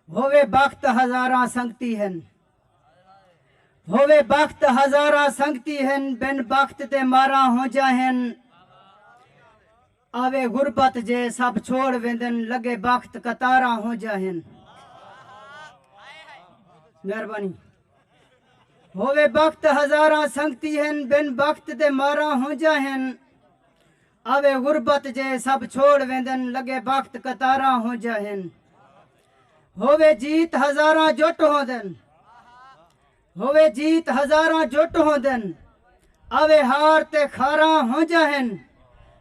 ہووے بخت ہزاراں سنگتی ہن ہووے بخت ہزاراں سنگتی ہن بن بخت دے ماراں ہونجا ہن آوے غربت جے سب چھوڑ ویندن لگے بخت قطاراں ہونجا ہن مہربانی ہووے بخت ہزاراں سنگتی ہن بن بخت دے ماراں ہونجا ہن آوے غربت جے سب چھوڑ ویندن لگے بخت قطاراں ہونجھا ہن ہووے جیت ہزاراں جٹ ہوندن ہووے جیت ہزاراں جٹ ہوندن آوے ہار تے خاراں ہونجھا ہن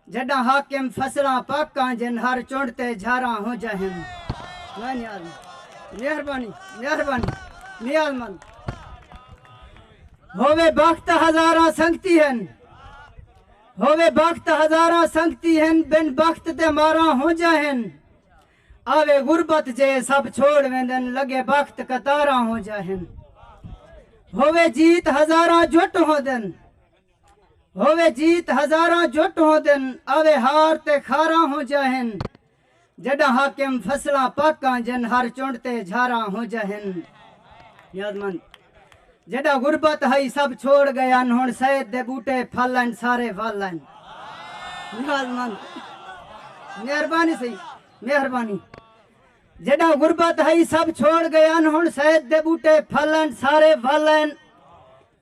جڈاں حاکم فصلاں پک کانجن ہر چنڈ تے جھاراں ہونجھا ہن واہ نیال مند مہربانی مہربانی نیال مند ہووے بخت ہزاراں سنگتی ہن ہووے بخت ہزاراں سنگتی ہن بن بخت تے ماراں ہونجاں ہن آوے غربت جے سب چھوڑ ویندن لگے بخت قطاراں ہونجاں ہن ہووے جیت ہزاراں جٹ ہوندن ہووے جیت ہزاراں جٹ ہوندن آوے ہار تے خاراں ہونجاں ہن جڈاں حاکم فصلاں پاکاں جن ہر چنڈ تے جھاراں ہوجہ ہن نیاز مند جڈاں غربت ہئی سب چھوڑ گئن ہن سید دے بوٹے پھل ہن سارے ول ہن نیاز مند مہربانی سی مہربانی جڈاں غربت ہئی سب چھوڑ گئن ہن سید دے بوٹے پھل ہن سارے ول ہن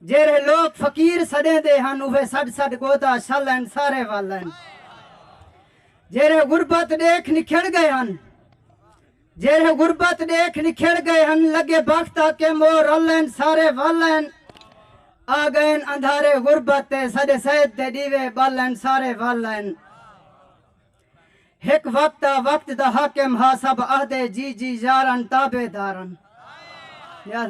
جیرے لوگ فقیر سڈیں دے ہن اوہ سڈ سڈ گودا شل ہن سارے ول ہن جیرھے غربت ݙیکھ نکھڑ ڳئے ہن جیرھے غربت ݙیکھ نکھڑ ڳئے ہن لڳے بخت آ کے مو رل این سارے ول این آ ڳئین اندھارے غربت تے ساݙے سید دے ݙیوے ٻل این سارے ول این ہک وقت آ وقت دا حاکم ہا سب آہدے جی جی یارن تابعدارن یار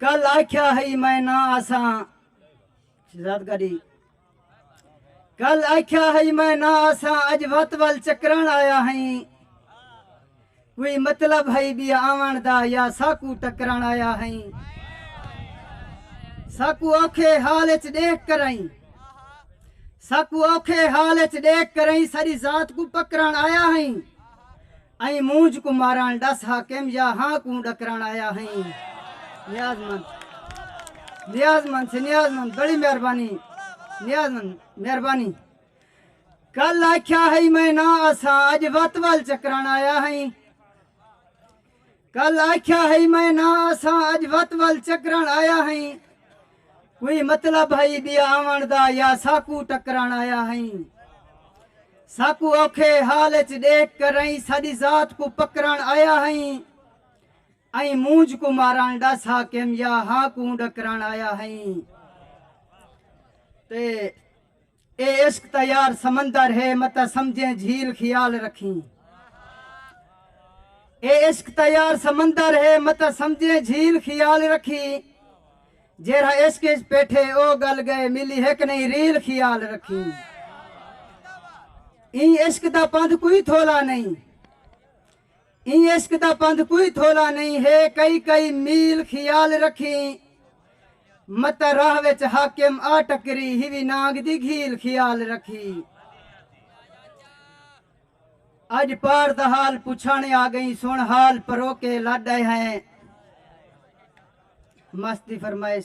کل آکھیا ہئی میں نہ آساں شہزاد گاڑی کل آکھیا ہئی میں نہ آساں اج وت ول چکران آیا ہئیں کوئی مطلب ہئی بھی آوان دا یا ساکو ٹکران آیا ہئیں ساکو اوکھے حال اچ دیکھ کرائیں ساکو اوکھے حال اچ دیکھ کرائیں ساری ذات کو پکران آیا ہئیں ایں مونجھ کوں مارݨ ݙس حاکم یا ہاں کوں ݙکرݨ آیا ہئیں نیاز مند نیاز مند سے نیاز مند بڑی مہربانی نیاز مند مہربانی کل آکھیا ہئی میں نہ اساں اج وت ول چکران آیا ہئی کل آکھیا ہئی میں نہ اساں اج وت ول چکرن آیا ہئیں کوئی مطلب ہئی بیا آون دا یا ساکو ٹکرن آیا ہئیں ساکو اوکھے حال اچ ڈیکھ کر رہی ساڈی ذات کو پکرن آیا ہئیں ائی مونج کو مارن ڈس حاکم یا ہاں کو ڈکرن آیا ہئیں تے اے عشق تاں یار سمندر ہے متاں سمجھیں جھیل خیال رکھیں اے عشق تاں یار سمندر ہے متاں سمجھیں جھیل خیال رکھیں جیرھا عشق اچ پیٹھے او گل گئے ملی ہک نہیں ریل خیال رکھیں ایں عشق دا پندھ کوئی تھولا نہیں ایں عشق دا پندھ کوئی تھولا نئیں ہے کئی کئی میل خیال رکھیں مت راہ وچ حاکم آ ٹکری ہیوی نانگ دی گھیل خیال رکھی اج پار دا حال پچھانے آ گئیں سن حال پروکے لڈ آئے ہیں مست دی فرمائش